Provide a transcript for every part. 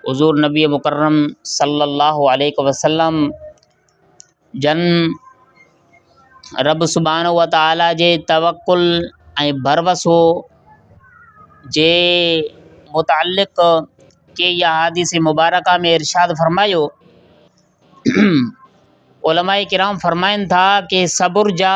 حضور نبي مڪرم صلّي اللّٰه عليه وسلّم جن ربّ سبحٰنه وتعالٰي جي توڪّل ۽ ڀروسو جي متعلق ڪي يا حديث مبارڪه ۾ ارشاد فرمايو علماء ڪرام فرمائن ٿا ڪي صبر جا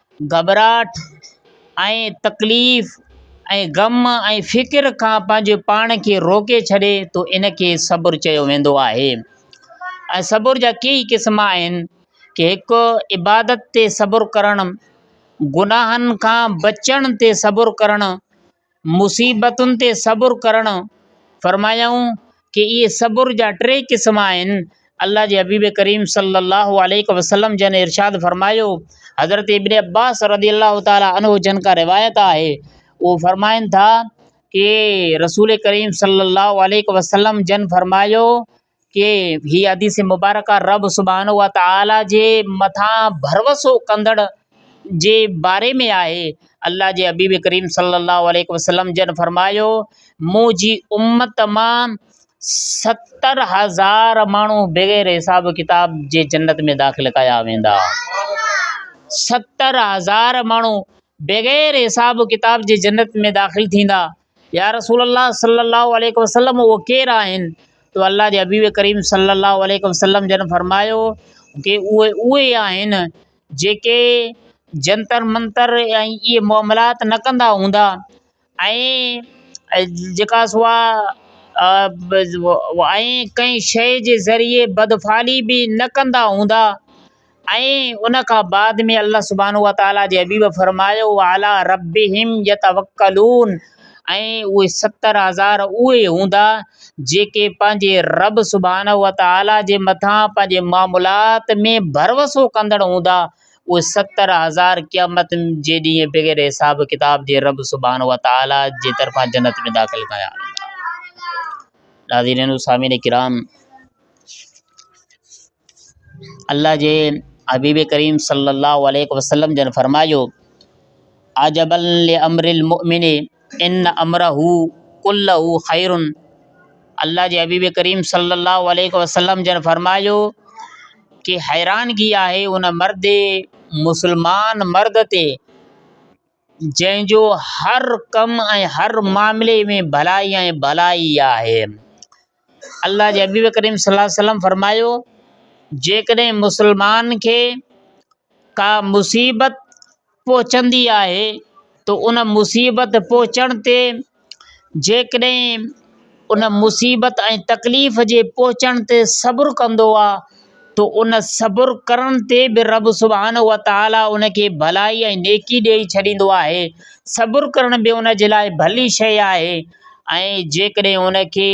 گهٻراهٽ ۽ تڪليف ۽ غم ۽ فڪر کان پنهنجي پاڻ کي روڪي ڇڏي تو ان کي صبر چيو ويندو آهي ۽ صبر جا ڪيئي قسم آهن ڪي هڪ عبادت تي صبر ڪرڻ گناهن کان بچڻ تي صبر ڪرڻ مصيبتن تي صبر ڪرڻ فرمايائون ته اهي صبر جا ٽي قسم آهن، الله جي حبيب ڪريم صلّي الله عليه وسلّم جن ارشاد فرمايو حضرت ابن عباس رضي الله تعالٰي عنه جن کان روايت آهي اهو فرمائن ٿا ته رسول ڪريم صلّي الله عليه وسلّم جن فرمايو ڪي هي حديث مبارڪه رب سبحانه وتعاليٰ جي مٿان ڀروسو ڪندڙ جي باري ۾ آهي الله جي حبيب ڪريم صلي الله عليه وسلم جن فرمايو منهنجي امت مان ستر هزار ماڻهو بغير حساب ڪتاب جي جنت ۾ داخل ڪيا ويندا ستر هزار ماڻهو بغير حساب ڪتاب جي جنت ۾ داخل ٿيندا يا رسول الله صلّي اللّٰه عليه وسلّم اهي ڪير آهن؟ ته الله جي حبيب ڪريم صلّي اللّٰه عليه وسلّم جن فرمايو ته اهي اهي آهن جيڪي جنتر منتر ۽ اهي معاملات نه ڪندا هوندا ۽ جيڪا سو آهي ۽ ڪنهن شيء جي ذريعي بدفعلي به نه ڪندا هوندا ۽ ان کان بعد ۾ الله سبحانه وتعاليٰ جي حبيب فرمايو، وعلي ربهم يتوڪلون ۽ اهي ستر هزار اهي هوندا جيڪي پنهنجي رب سبحانه وتعاليٰ جي مٿان پنهنجي معاملات ۾ ڀروسو ڪندڙ هوندا اهي ستر هزار قيامت جي ڏينهن بغير حساب ڪتاب جي رب سبحانه وتعاليٰ جي طرفان جنت ۾ داخل ڪيا ويندا ناظرين وسامعين ڪرام الله جي حبيب ڪريم صلي الله عليه وسلم جن فرمايو عجباً لامر المؤمن ان امره ڪله خير الله جي حبيب ڪريم صلي الله عليه وسلم جن فرمايو ڪي حيرانگي آهي ان مرد مسلمان مرد تي جنهن جو هر ڪم ۽ هر معاملي ۾ ڀلائي ۽ ڀلائي آهي. الله جي حبيب ڪريم صلي الله عليه وسلم فرمايو، جيڪڏهن مسلمان کي ڪا مصيبت پهچندي آهي ته ان مصيبت پهچڻ تي جيڪڏهن ان مصيبت ۽ تڪليف جي پهچڻ تي صبر ڪندو آ ته ان صبر ڪرڻ تي به رب سبحانه وتعاليٰ ان کي ڀلائي ۽ نيڪي ڏيئي ڇڏيندو آهي. صبر ڪرڻ به ان جي لاء ڀلي شيء آهي ۽ جيڪڏهن ان کي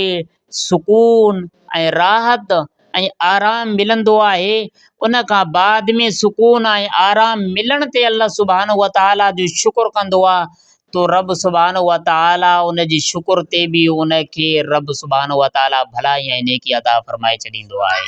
سڪون ۽ راحت ۽ آرام ملندو آهي ان کان بعد ۾ سڪون ۽ آرام ملڻ تي الله سبحانه وتعالٰي جو شڪر ڪندو آهي تو رب سبحانه وتعالٰي ان جي شڪر تي بي ان کي رب سبحانه وتعالٰي ڀلائي ۽ نيڪي عطا فرمائي ڇڏيندو آهي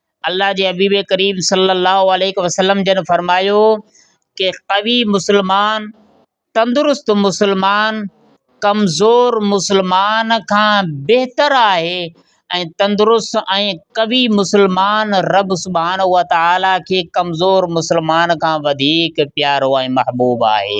الله جي حبيب ڪريم صلّي الله عليه وسلّم جن فرمايو ته قوي مسلمان تندرست مسلمان ڪمزور مسلمان کان بهتر آهي ۽ تندرست ۽ قوي مسلمان رب سبحانه وتعالٰي کي ڪمزور مسلمان کان وڌيڪ پيارو ۽ محبوب آهي.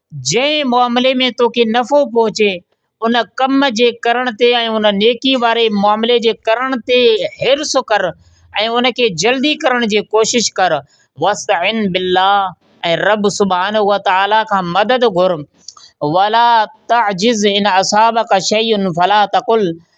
جنهن معاملي ۾ توکي نفعو پهچي، ان ڪم جي ڪرڻ تي ۽ ان نيڪي واري معاملي جي ڪرڻ تي حرص ڪر ۽ ان کي جلدي ڪرڻ جي ڪوشش ڪر. واستعن بالله ۽ رب سبحانه وتعاليٰ کان مدد گهر. ولا تعجز ان اصابك شيء فلا تقل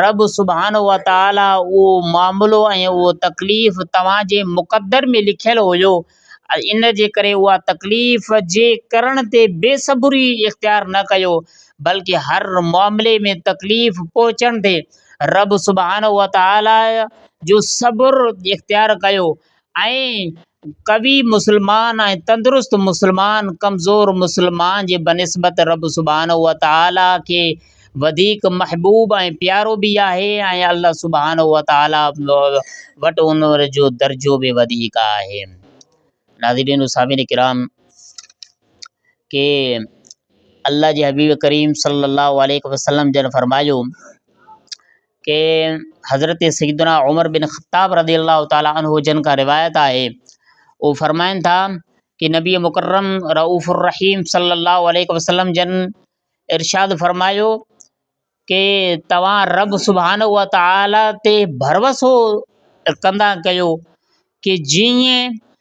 رب سبحانه وتعاليٰ اهو معاملو ۽ اهو تڪليف توهان جي مقدر ۾ لکيل هيو، ان جي ڪري اها تڪليف جي ڪرڻ تي بي صبري اختيار نه ڪيو، بلڪ هر معاملي ۾ تڪليف پهچڻ تي رب سبحانه وتعاليٰ جو صبر اختيار ڪيو ۽ قوي مسلمان ۽ تندرست مسلمان ڪمزور مسلمان جي بنسبت رب سبحانه وتعاليٰ کي وڌيڪ محبوب ۽ پيارو به آهي ۽ الله سبحانه وتعاليٰ وٽ ان جو درجو به وڌيڪ آهي. ناظرين و سامعين ڪرام! ڪي الله جي حبيب ڪريم صلي الله عليه وسلم جن فرمايو کي حضرت سيدنا عمر بن خطاب رضي الله تعالٰي عنه جن کان روايت آهي هو فرمائن ٿا ڪي نبي مڪرم رعوف الرحيم صلي الله عليه وسلم جن ارشاد فرمايو ڪي توهان رب سبحانه و تعالٰي تي ڀروسو ڪندا ڪيو ڪي جيئن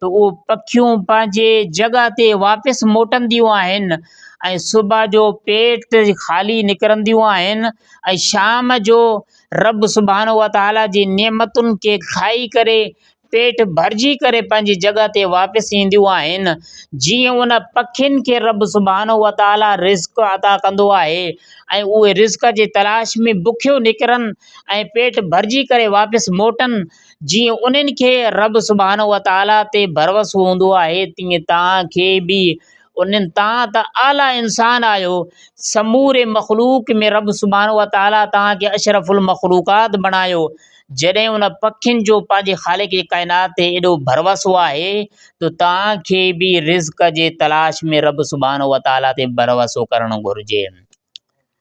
ته اهي پکيون پنهنجي جڳهه تي واپس موٽنديون آهن ۽ صبح جو پيٽ خالي نڪرنديون آهن ۽ شام جو رب سبحانه وتعالي جي نعمتن کي کائي ڪري پيٽ ڀرجي ڪري پنهنجي جڳهه تي واپس اينديون آهن جيئن ان پکين کي رب سبحانه وتعالي رزق عطا ڪندو آهي ۽ اهي رزق جي تلاش ۾ بکيو نڪرن ۽ پيٽ ڀرجي ڪري واپس موٽن جيئن انهن کي رب سبحانه وتعاليٰ تي ڀروسو هوندو آهي تيئن توهان کي به انهن توهان ته اعليٰ انسان آهيو سموري مخلوق ۾ رب سبحانه وتعاليٰ توهان کي اشرف المخلوقات بڻايو جڏهن ان پکين جو پنهنجي خالق ڪائنات تي ايڏو ڀروسو آهي ته توهان کي به رزق جي تلاش ۾ رب سبحانه وتعاليٰ تي ڀروسو ڪرڻ گهرجي.